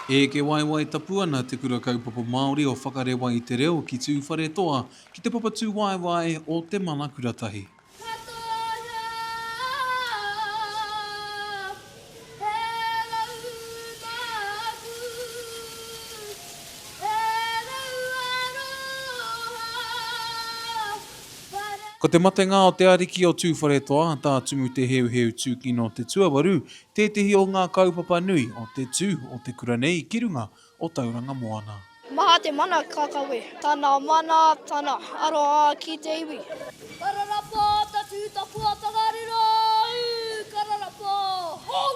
Eke waewae tapu ana Te Kura Kaupapa Māori o Whakarewa i te Reo ki Tūwharetoa ki te papatū waewae o Te Mana Kuratahi. Ko te matenga o te ariki o Tūwharetoa, tā Tumu Te Heuheu Tūkino te tuawaru, tētehi o ngā kaupapa nui o te tū o te kura nei ki runga o Tauranga Moana. Maha te mana ka kawe. Tana mana, tana aroha ki te iwi. Kararapa, tatū tapua, tongariro, ū! Kararapa, hou!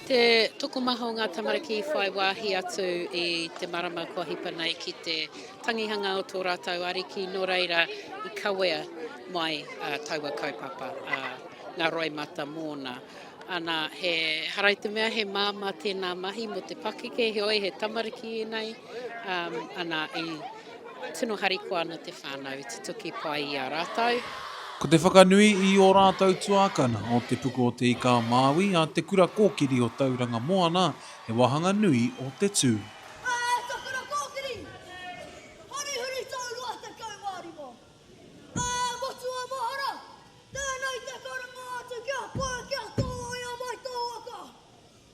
Te tokomaha o ngā tamariki i whai wāhi atu i te marama kua hipa nei ki te tangihanga o tō rātou ariki, nō reira i kawea mai taua kaupapa, ngā roimata mōna. Ana, he hara i te mea he māmā tēnā mahi mō te pakeke, heoi he tamariki ēnei, ana, i. Tino harikoa ana te whānau i tutuki pai i a rātou. Ko te whakanui i ō rātou tuākana o Te Puku o Te Ika-a-Māui a Te Kura Kōkiri o Tauranga Moana he wāhanga nui o te tū. Āe, ka kura kōkiri! Hurihuri tō rua tekau mā rima. Ā, motu a mahara, tēnei te karangaatu kia pai, kia tōia mai tō waka.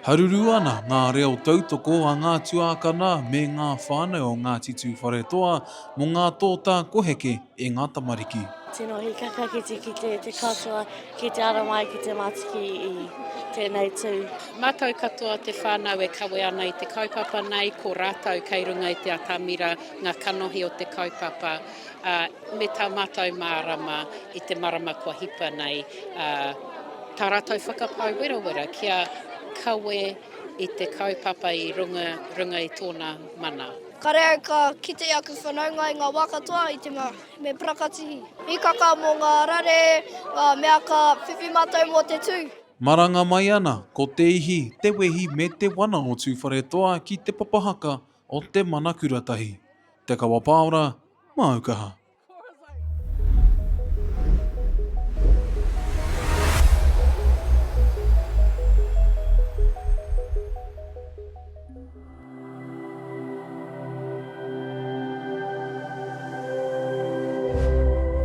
Haruru ana ngā reo tautoko a ngā tuākana me ngā whānau o Ngāti Tūwharetoa mō ngā tōtā koheke e ngā tamariki. Tino hikaka ki te kite te katoa ki te ara mai ki te matiki i tenei tu. Matou katoa te whanau e kawe ana i te kaupapa nei ko ratou kei runga i te atamira nga kanohi o te kaupapa a. Me tā mātou mārama i te marama kua hipa nei, ā, tā rātou whakapae werawera kia kawe i te kaupapa i runga, runga i tōna mana. Kareau ka kite aku whanaunga i ngā wā katoa i te mā, me prakatihi. Hikaka mō ngā rare, ngā mea ka whiwhi mātou mō te tū. Maranga mai ana ko te ihi, te wehi me te wana o Tūwharetoa ki Te Papahaka o Te Manakura Tahi, Te Kawapaora, Māu kaha.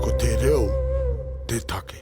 Ko te reo te take.